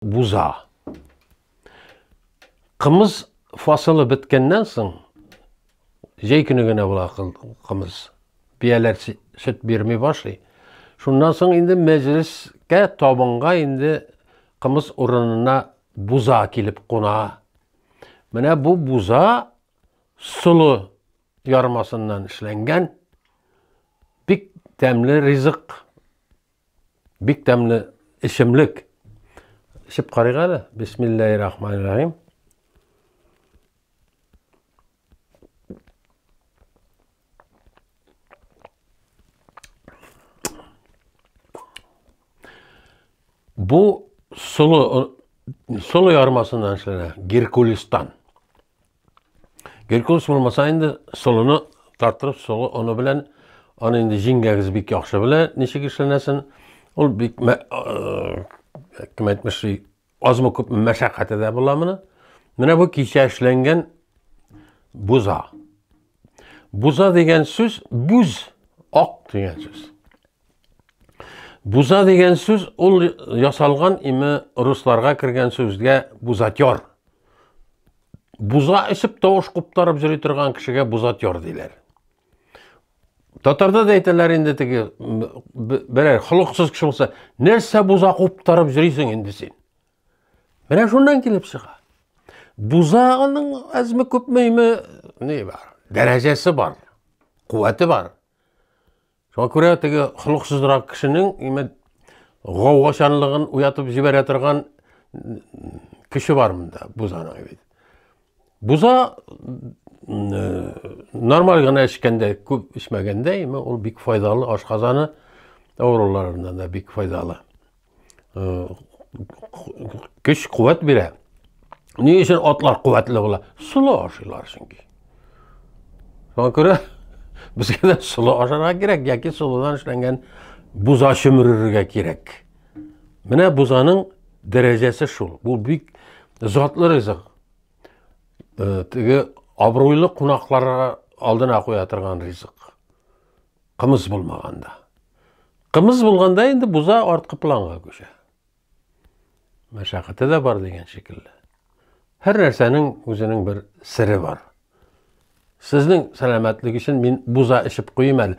буза. Кымыз фасылы беткәннән соң, җәй көне генә була кымыз. Бияләр сөт бирми башлый. Шуннан соң инде мәҗлескә табынга инде кымыз урынына буза килеп куна. Менә бу буза солы ярмасыннан эшләнгән бик тәмле ризык. Бик тәмле эчемлек. Эчеп карыйк әле. Бисмиллаһир рахманир рахим. Бу солы солы ярмасыннан эшләнә, Геркулистан. Геркулес булмаса инде солыны тартырып солы оны белән аны инде җиңгәгез бик яхшы белә ничек эшләнәсен. Ул бик кем әйтмешли азмы күпме мәшәкате дә була моны. Менә бу кичә эшләнгән буза. Буза дигән сүз бүз ак дигән сүз. Буза дигән сүз ул ясалган име русларга кергән сүзгә бузатер. Буза эчеп тавыш куптарып йөри торган кешегә бузатер диләр. Татарда да әйтәләр инде теге берәр холыксыз кеше булса, нәрсә буза куптарып йөрисең инде син? Менә шуннан килеп чыга. Бузаның әзме күпме име ни бар? Дәрәҗәсе бар. Куәте бар. Шуңа күрә теге холыксызрак кешенең имәт гаугачанлыгын уятып җибәрә торган кеше бар монда бузаның бит. Буза нормаль гына эчкәндә, күп эчмәгәндә, ул бик файдалы, ашказаны авыруларына да бик файдалы. көч куәт бирә ни өчен атлар куәтле була солы ашыйлар чөнки шуңа күрә безгә дә солы ашарга кирәк яки солыдан эшләнгән буза чөмерергә кирәк менә бузаның дәрәҗәсе шул бу бик затлы ризык теге абруйлы кунакларга алдына куя торган ризык Кымыз булмаганда. Кымыз булганда инде буза арткы планга күчә. Мәшәкате дә бар дигән шикелле. Һәр нәрсәнең үзенең бер сере бар. Сезнең сәламәтлек өчен мин буза эчеп куйым әле.